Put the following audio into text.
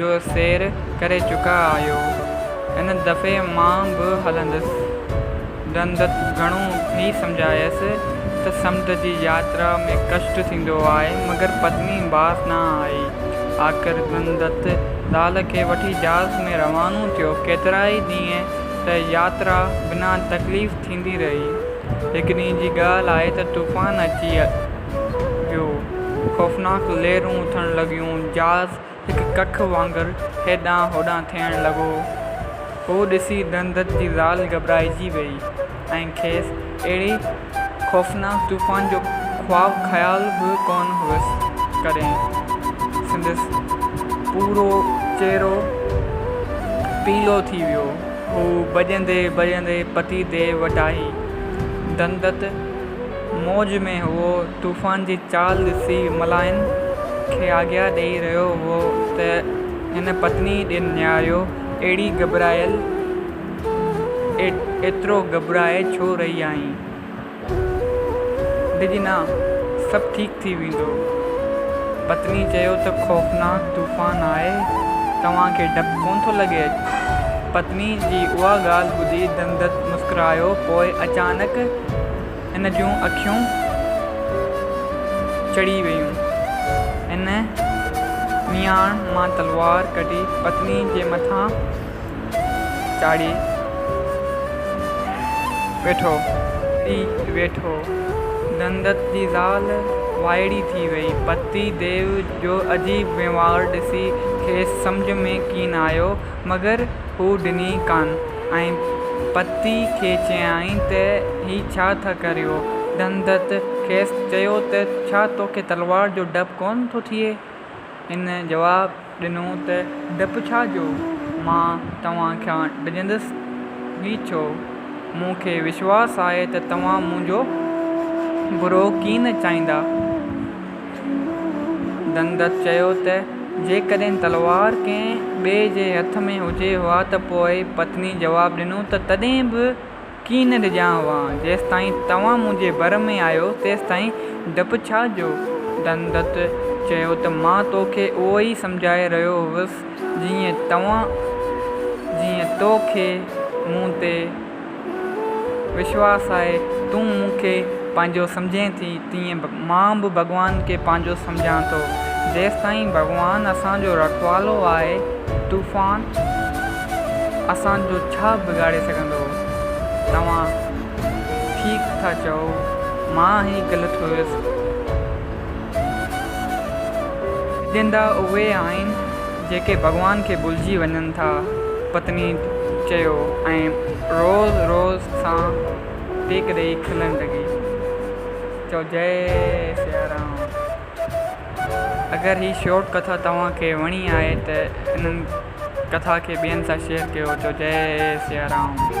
جو سير ڪري چڪا آهيو. هن دفعي مان به هلندس. ڏندت گهڻو ٿي سمجهايس ته سمنڊ جي ياترا ۾ ڪشٽ ٿيندو آهي مگر پتني باس نه آئي. آخر ڏندت زال کي وٺي جهاز ۾ روانو ٿيو. ڪيترائي ڏينهن ته ياترا بنا تڪليف ٿيندي رهي. هڪ ڏينهن جي ڳالهه آهي ته طوفان اچي ويو. خوفناڪ لهرون اٿڻ لڳيون. جهاز هڪ ڪک وانگر هيڏانهن هوڏانهن ٿيڻ لڳو. اهو ڏسي دندت جي زال گهٻرائجي ويئي ۽ کيس اهڙي خوفناڪ طوفان جو خواب خيال به ڪونه هئس. ڪڏهن سندس پورو چهرو پيلو ٿي ويو. هو ڀڄندي ڀڄندي پتي ديء وٽ آئي. دندت موج ۾ هئو، طوفان جي چال ڏسي ملائن کي آگيا ڏيئي رهيو هئو ته هن پتني ڏي نهاريو، اهڙي گهٻرايل، ايترو گهٻرائي ڇو رهي آهين؟ ڊڄ نه، سڀ ٺيڪ ٿي ويندو. پتني چيو ته خوفناڪ طوفان آهي، توهان کي ڊپ ڪونه ٿو لڳي؟ پتني جي اها ڳالهه ٻڌي دندت مسڪرايو، پوء اچانڪ هن جون اکيون چڙهي ويون. هن مياڻ مان تلوار ڪڍي پتني جي مٿان چاڙهي ويٺو. ٿي ويٺو. دندت جي زال وائڙي ٿي وئي. پتي ديو جو عجيب وهنوار ڏسي کيس سمجهه ۾ ڪين آيو. مگر هو ڏني ڪانه ۽ پتي کي چيائين ته هي ڇا ٿا ڪريو؟ دھندت کيس چيو ته ڇا توکي تلوار جو ڊپ ڪونه ٿو ٿئي؟ هن جواب ڏنو ته ڊپ ڇا جو؟ مان توهان کان ڊڄندس ئي ڇو؟ مون کي وشواس آهي ته توهان منهنجو برو ڪين چاهيندا. دنگت چيو ته جيڪڏهن تلوار ڪنهن ٻئي جي هٿ ۾ هجي هئا ته پوء پتني جواب ڏنو ته تڏهن به ڪين ڏجان هئان جيستائين توهان منهنجي ڀر ۾ آهيو تيستائين ڊپ ڇا جو؟ دنگت چيو ته مان تو کي اهو ئي سمجهائي رهيو هوس جيئن تو کي مون تي وشواس آهي تون مون کي پنهنجو سمجهين ٿي تيئن مان به ڀڳوان کي پنهنجو سمجهان ٿو. جيستائين ڀڳوان اسان جو رکوالو آهي طوفان اسان جو ڇا بگاڙي سگهندو. توهان ٺيڪ ٿا چئو مان ئي غلط هيس. سمجهندا اهي آهن. جيڪي ڀڳوان کي ڀلجي وڃن ٿا، پتني چيو ۽ روز روز سان ٽيڪ ڏئي کلڻ لڳي. چئو جئي سيارام. اگر هي شورٽ ڪٿا توهان کي وڻي آهي ته هن ڪٿا کي ٻين سان شيئر ڪيو چئو جئي سيارام.